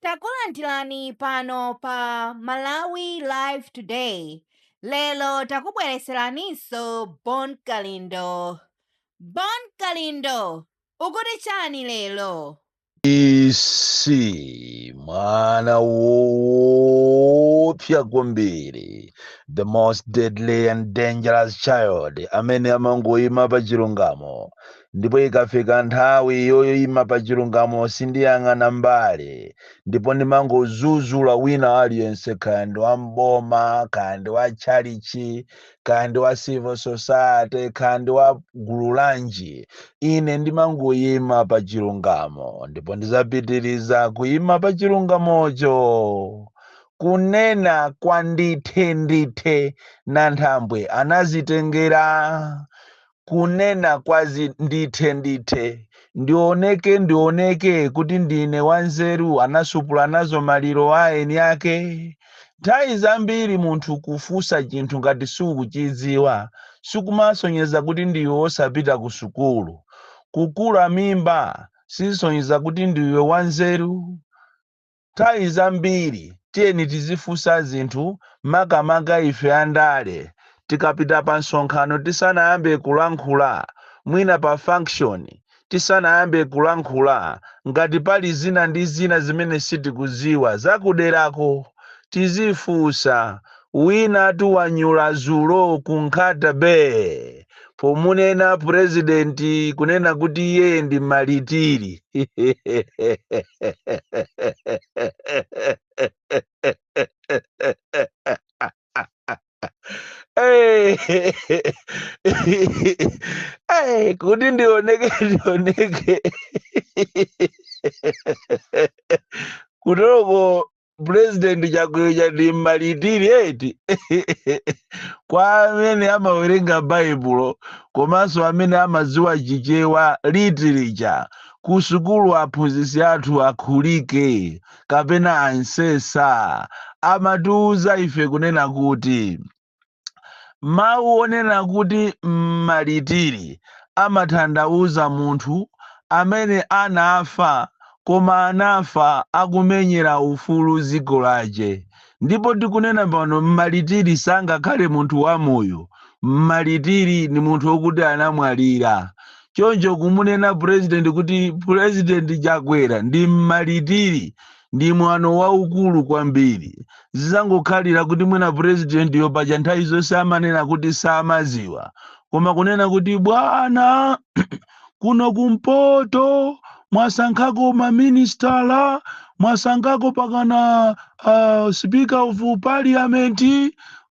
Takulandirani pano pa Malawi Live Today. Lero takubwereseraninso Bon Kalindo. Bon Kalindo, ukuti chani lero? DC mwana woopsa kwambiri the most deadly and dangerous child amene amangoyima pa chilungamo ndipo ikafika nthawi yoyima pa chilungamo sindiyang'ana mbali ndipo ndimangozuzula wina aliyense kaya ndi wa mboma kaya ndi wa tchalichi kaya ndi wa civil society kaya ndi wa gulu lanji ine ndimangoyima pa chilungamo ndipo ndizapitiriza kuyima pa chilungamocho kunena kwa ndithe ndithe nanthambwe anazitengera kunena kwa ndithe ndithe ndioneke ndioneke kuti ndine wanzeru anasupula nazo maliro a eni ake nthawi zambiri munthu kufunsa chinthu ngati sukuchidziwa sikumasonyeza kuti ndiwe wosapita ku sukulu kukula mimba sizisonyeza kuti ndiwe wanzeru Nthawi zambiri tiyeni tizifunsa zinthu makamaka ife andale tikapita pa msonkhano tisanayambe kulankhula, mwina pa function tisanayambe kulankhula ngati pali zina ndi zina zimene sitikudziwa za kuderako tizifunsa Winatu wanyula zulo ku Nkhata Bay pomunena president kunena kuti iye ndi malitiri. Hey, hey, kuti ndioneke ndioneke kutoroko pulezidenti Chakwera ndi mmalitiri eti kwa amene amawerenga baibulo komanso amene amadziwa chichewa literature ku sukulu aphunzitsi athu akhulike kapena ansesa amatiuza ife kunena kuti Mawu onena kuti mmaritiri amathandauza munthu amene anafa koma anafa akumenyera ufulu dziko lache. Ndipo tikunena pano mmaritiri sangakhale munthu wamoyo, mmaritiri ni munthu okuti anamwalira. Choncho kumunena president kuti president Chakwera ndi mmaritiri ndi mwano waukulu kwambiri zizangokhalira kuti mwina presidentiyo paja nthawi zonse amanena kuti samaziwa koma kunena kuti bwana kuno kumpoto mwasankhako maministala mwasankhako pakana uh, speaker of parliament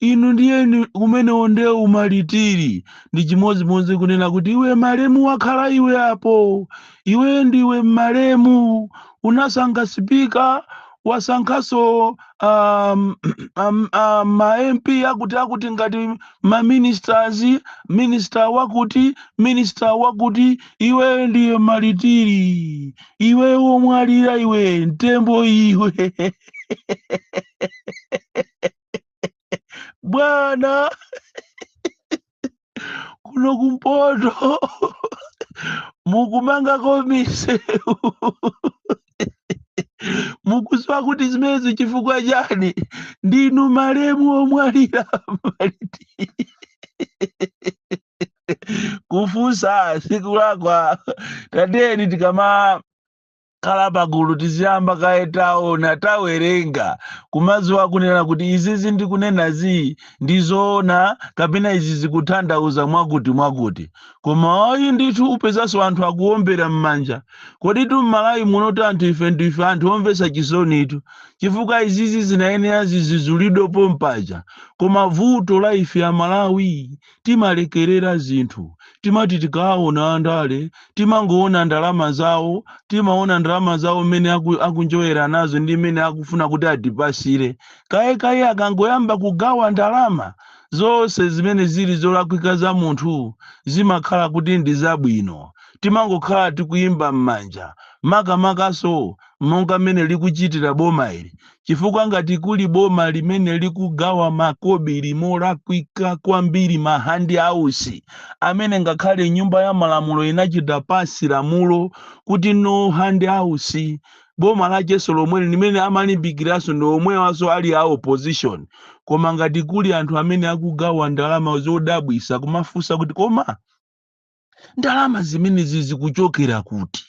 inu ndiye kumene onde u malitiri ndi chimodzimodzi kunena kuti iwe malemu wakhala iwe apo iwe ndiwe malemu unasankha sipika wasankhanso um, um, um, ma mp akuti akuti ngati ma ministers minister wakuti minister wakuti iwe ndiwe malitiri iwe womwalira iwe mtembo iwe bwana kuno kumpoto mukumangako misewu mukuziwa kuti zimenezo chifukwa chani ndinu malemu omwalira malitiri kufunsa sikulakwa tateni tikama khala pagulu tiziyamba kaye taona tawerenga kumadziwa kunena kuti izizi ndikunenazi ndizoona kapena izi zikuthandauza mwakuti mwakuti koma ayi ndithu upezanso anthu akuombera m'manja koditu m'malawi munotu anthu ife ndife anthu omvetsa chisonitu chifukwa izizi zinayenera zidzudzulidwe pompaja koma vuto la ife amalawi timalekerera zinthu. Timati tikaona andale timangoona ndalama zawo, timaona ndalama zawo mmene aku, akunjoyera nazo ndi mmene akufuna kuti atipasire. Kayekaye akangoyamba kugawa ndalama, zonse zimene zili zolakwika za munthu zimakhala kuti ndi zabwino. Timangokhala tikuimba m'manja, makamakanso monga mmene likuchitira boma ili. chifukwa ngati kuli boma limene likugawa makobiri molakwika kwambiri ma hand outs amene ngakhale nyumba ya malamulo inachita pass lamulo kuti no hand outs boma lacheso lomweli limene amalimbikiranso ndi omwewanso ali a opposition koma ngati kuli anthu amene akugawa ndalama zodabwisa kumafunsa kuti koma ndalama zimenezi zikuchokera kuti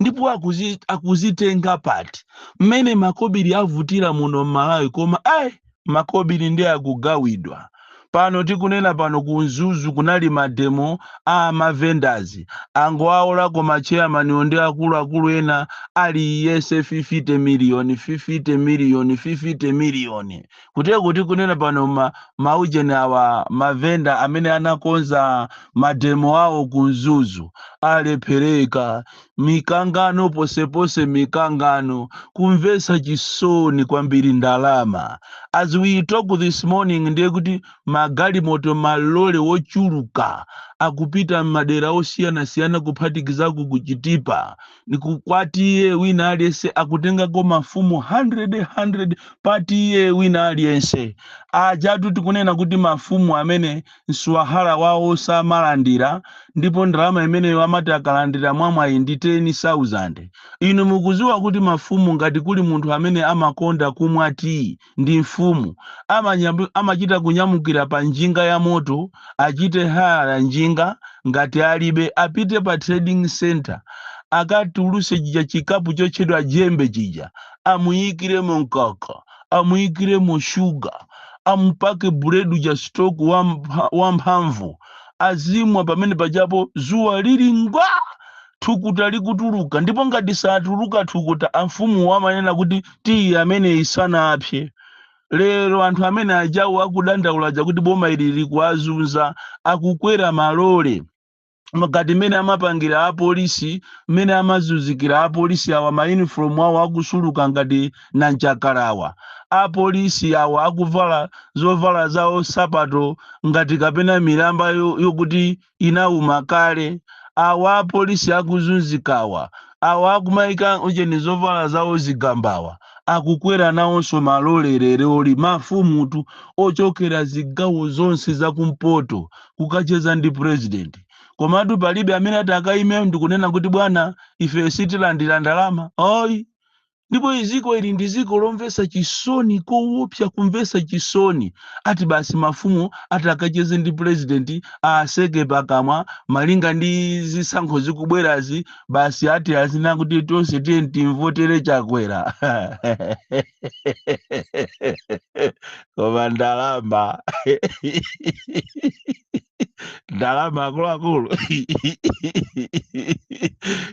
ndipo akuzi, akuzitenga pati mmene makobiri avutira muno m'malawi koma ayi makobiri ndi akugawidwa pano tikunena pano ku mzuzu kunali mademo a mavendazi angowawolako macheyamaniyo ndi akuluakulu ena aliyese 50 miliyoni 50 miliyoni 50 miliyoni kuteroko tikunena pano ma, maujeni awa mavenda amene anakonza mademo awo ku mzuzu alephereka mikangano posepose mikangano kumvetsa chisoni kwambiri ndalama as we talk this morning ndiye kuti magalimoto malole wochuluka akupita m'madera osiyanasiyana kuphatikizapo kuchitipa ndi ku Kwatiye wina aliyense akutengako mafumu 100 100 patiye wina aliyense ajatu tikunena kuti mafumu amene mswahara wawo samalandira ndipo ndalama imene amati akalandira mwamwayi ndi 10000 inu mukuziwa kuti mafumu ngati kuli munthu amene amakonda kumwa tiyi ndi mfumu amanyam- amachita kunyamukira pa njinga ya moto achite haya njinga ngati alibe apite pa trading center akatuluse chija chikapu chotchedwa jembe chija amuyikiremo mkaka amuyikiremo shuga amupake buledi uja stock wampha- wamphamvu azimwa pamene pajapo zuwa lili ngwa thukuta likutuluka ndipo ngati satuluka thukuta amfumuwo amanena kuti tiyi ameneyi sanapse lero anthu amene ajawo akudandaula aja kuti boma ili likuwazunza akukwera malole ngati mmene amapangira apolisi mmene amazunzikira apolisi awa mayunifomu awo akusuluka ngati nyanchakalawa apolisi awa akuvala zovala zawo nsapato ngati kapena milamba yo- yokuti inauma kale awa apolisi akuzunzikawa awa akumaika ujeni zovala zawo zigambawa akukwera nawonso malole leroli mafumutu ochokera zigawo zonse zakumpoto kukacheza ndi purezidenti komatu palibe amene atakaime ndikunena kuti bwana ife sitilandira ndalama oyi ndipo iziko ili ndi ziko lomvesa chisoni kowopsa kumvesa chisoni ati basi mafumu atakacheze ndi president atseke pakamwa malinga ndi zisankho zikubwerazi basi ati azinena kuti tonse tiye timvotere chakwera koma ndalama ndalama akuluakulu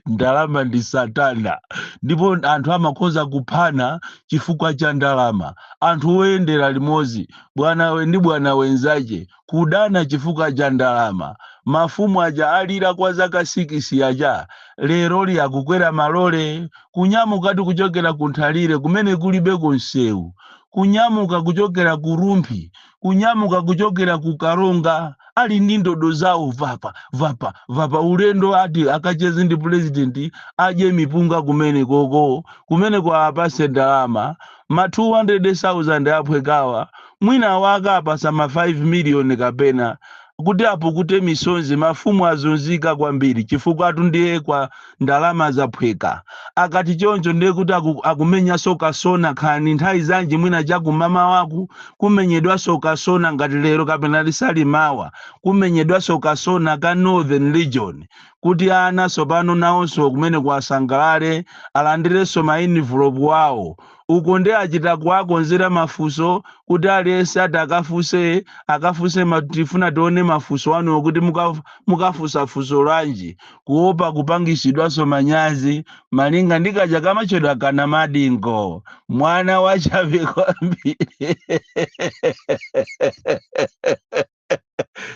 ndalama ndi satana ndipo anthu amakhoza kuphana chifukwa cha ndalama anthu oyendera limodzi bwanawe ndi bwanawe nzache kudana chifukwa cha ndalama mafumu aja alira kwa zaka sikisi aja leroli akukwera malole kunyamukatu kuchokera ku nthalire kumene kulibeko nsewu kunyamuka kuchokera ku rumphi kunyamuka kuchokera ku karonga ali ndi ndodo zawo vapa vapa vapa ulendo ati akacheze ndi pulezidenti adye mipunga kumene koko kumeneko awapase ndalama ma 200,000 aphwekawa mwina awaka apasa ma 5 miliyoni kapena kuti apukute misonzi mafumu azunzika kwambiri chifukwatu ndiye kwa ndalama zaphweka akati choncho ndiye kuti aku, akumenyanso kasona kaya nthawi zanji mwina chakumamawaku kumenyedwanso kasona ngati lero kapena lisali mawa kumenyedwanso kasona ka northern region kuti ana tsopano nawonso kumene ko asangalale alandirenso ma envelope wawo uko ndi achita kuwakonzera mafunso kuti aliyense ati akafunse akafunse ma- tifuna tione mafunso anuwo kuti muka- mukafunsa funso lanji kuopa kupangisidwanso manyazi malinga ndi kaja kamatchedwa ka Namadingo mwana wachabe kwambiri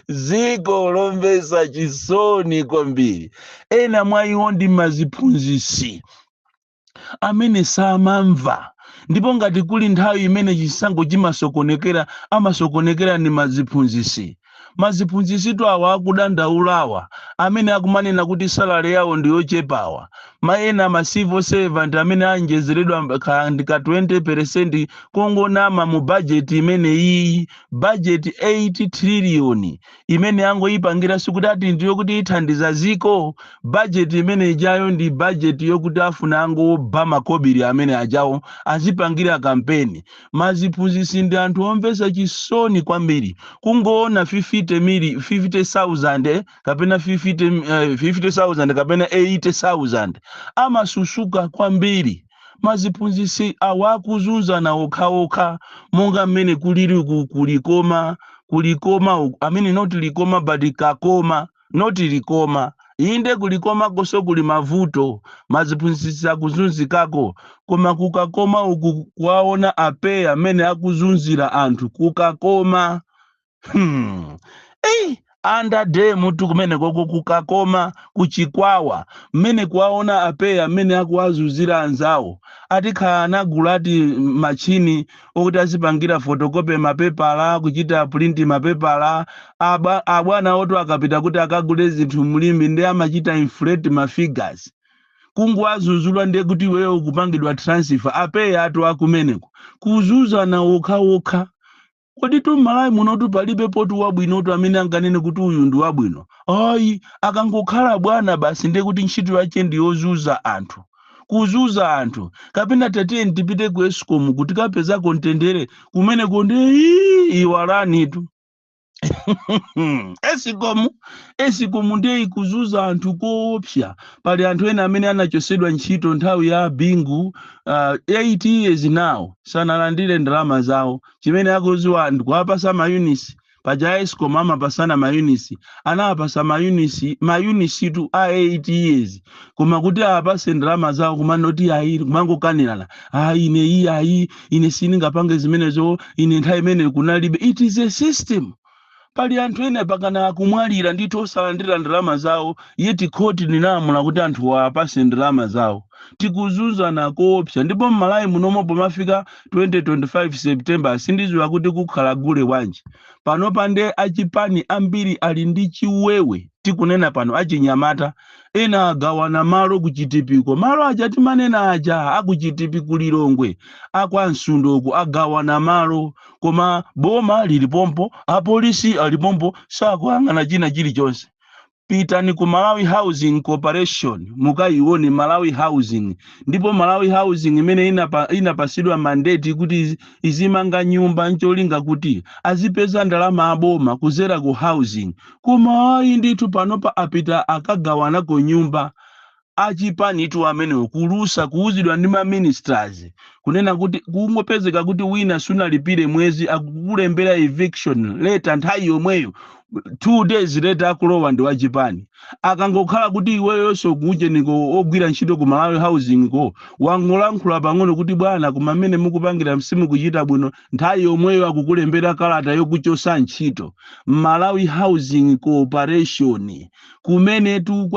ziko lomvesa chisoni kwambiri ena mwa iwo ndi maziphunzisi amene samamva ndipo ngati kuli nthawi imene chisankho chimasokonekera chimasokonekera ndi maziphunzisi maziphunzisitu awa akudandaulawa amene akumanena kuti salary yawo ndiyochepawa ma ena ma civil servant amene awonjezeredwa mb- ka ndi ka 20% kongonama mu budget imene iyi budget 8 trillion imene angoyipangira sikuti ati ndi yokuti ithandiza ziko bajeti imene ijayo ndi bajeti yokuti afuna angoba makobiri amene ajawo azipangire kampeni maziphunzitsi ndi anthu omvetsa chisoni kwambiri kungoona 50 mili 50000 kapena 50 eh, 50000 kapena 80000 amasusuka kwambiri maziphunzitsi awa akuzunzana okhaokha monga mmene kuliri ku ku Likoma ku Likoma uku- i mean not likoma but kakoma not likoma inde ku Likomakonso kuli mavuto maziphunzitsi akuzunzikako koma ku Kakoma uku kuwaona a PEA mmene akuzunzira anthu ku Kakoma hmm. Ei, andade mutu kumene koko ku Kakoma ku Chikwawa mmene kuwaona a PEA mmene akuwazunzira anzawo atakhala anagula ati machini okuti azipangira fotokope mapepala kuchita pulinti mapepala Aba- abwana oto akapita kuti akagule zinthu mu Limbe ndi amachita inflate mafigures kungowadzudzula ndiye kuti iweyo ukupangidwa transfer a PEA atu akumeneko kuzunzana okhaokha kodi tu m'malawi munotu palibe munthu wabwinotu amene anganene kuti uyu ndi wabwino ayi akangokhala bwana basi ndiye kuti ntchito yache ndi yozuza anthu kuzuza anthu kapena tatiyeni tipite ku escom kuti kapeza kontendere kumeneko ndiye ii iwalanitu escom escom ndiye ikuzuza anthu koopsa pali anthu ena amene anachosedwa ntchito nthawi ya bingu uh, 8 years now sanalandire ndalama zawo chimene akuziwa ndi kuwapasa mayunisi paja escom amapasana mayunisi anawapasa mayunisi mayunisitu a 8 years koma kuti apase ndalama zawo kumangoti ayi kumangokanirana ayi ine iyi ayi ine sindingapange zimenezo ine nthawi imeneyo kunalibe it is a system Pali anthu ena pakana akumwalira ndithu osalandira ndalama zawo yet khoti linalamula kuti anthuwa apasidwe ndalama zawo. Tikuzunzana koopsa ndipo mmalawi munomo pomafika 2025 September sindiziwa kuti kukhala gule wanji. Panopa nde achipani ambiri ali ndi chiwewe tikunena pano achinyamata ena agawana malo ku chitipiko malo aja timanena aja aku chitipi ku Lilongwe akwa msundoko agawana malo koma boma lili pompo apolisi ali pompo sakuyang'ana china chilichonse pitani ku malawi housing corporation mukayione malawi housing ndipo malawi housing imene inapasidwa mandate kuti izimanga nyumba ncholinga kuti azipeza ndalama aboma kuzera ku housing koma ayi ndithu panopa apita akagawanako nyumba achipani tu amenewo kulusa kuuzidwa ndi ma ministers kunena kuti kungopezeka kuti wina sunalipire mwezi akukulembera eviction letter nthawi yomweyo two days later akulowa ndi wachipani akangokhala kuti iweyonso kuujeniko ogwira ntchito ku malawi housing ko wangolankhula pang'ono kuti bwana koma mmene mukupangira simukuchita bwino nthawi yomweyo akukulembera kalata yokuchosa ntchito malawi housing corporation kumenetu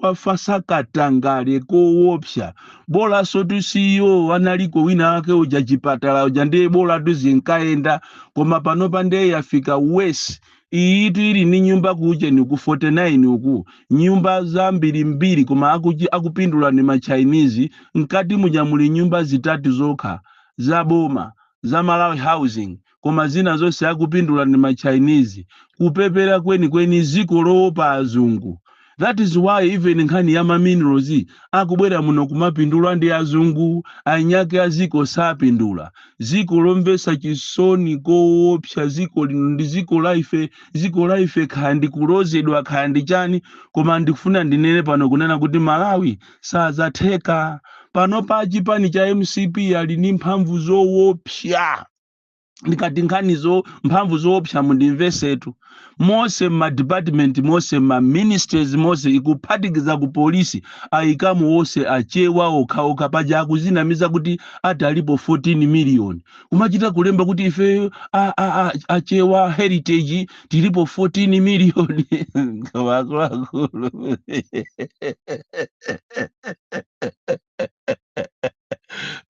kwafasa katangale kowopsa bolasotu CEO analiko wina wake uja chipatala uja ndiye bola tu zinkayenda koma panopa ndiye yafika worse iyitu ili ni nyumba ku ujeni ku 49 uku nyumba zambirimbiri koma akupindula ni machinese mkati muja muli nyumba zitatu zokha za boma za malawi housing koma zina zonse akupindula ndi ma Chinese. Kupepera kweni kweni ziko lowopa azungu. That is why even nkhani ya ma minerals akubwera muno kumapindula ndi azungu, anyake a ziko sapindula. Ziko lomvesa chisoni kowopsa ziko lino ndi ziko la ife, ziko la ife kaya ndi kulozedwa kaya ndi chani koma ndikufuna ndinene pano kunena kuti Malawi sazatheka. Panopa a chipani cha mcp ali ndi mphamvu zowopsa. ndikati nkhani zamphamvu zoopsa mundimvesetu mose mmadipatimenti mose mmaministries mose ikuphatikiza ku polisi ayikamo wonse achewa okhaokha paja akuzinamiza kuti ati alipo 14 miliyoni kumachita kulemba kuti ifeyo a- a- a- achewa heritage tilipo 14 miliyoni akuluakulu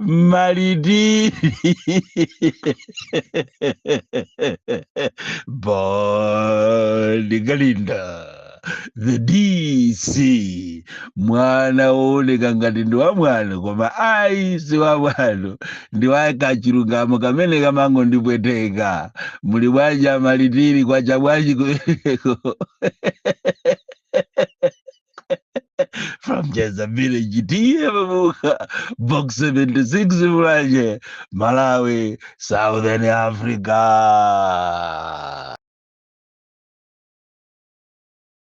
Malidi. Bon Kalindo. The DC. Mwana wooneka ngati ndi wa mwano koma ayi si wa mwano. Ndi wa kachilungamo kamene kamangondipweteka. Muli bwanji a Limpopo kwacha bwanji kumeneko. from Jazza Village tiye pabuka box 76 mulanje Malawi Southern Africa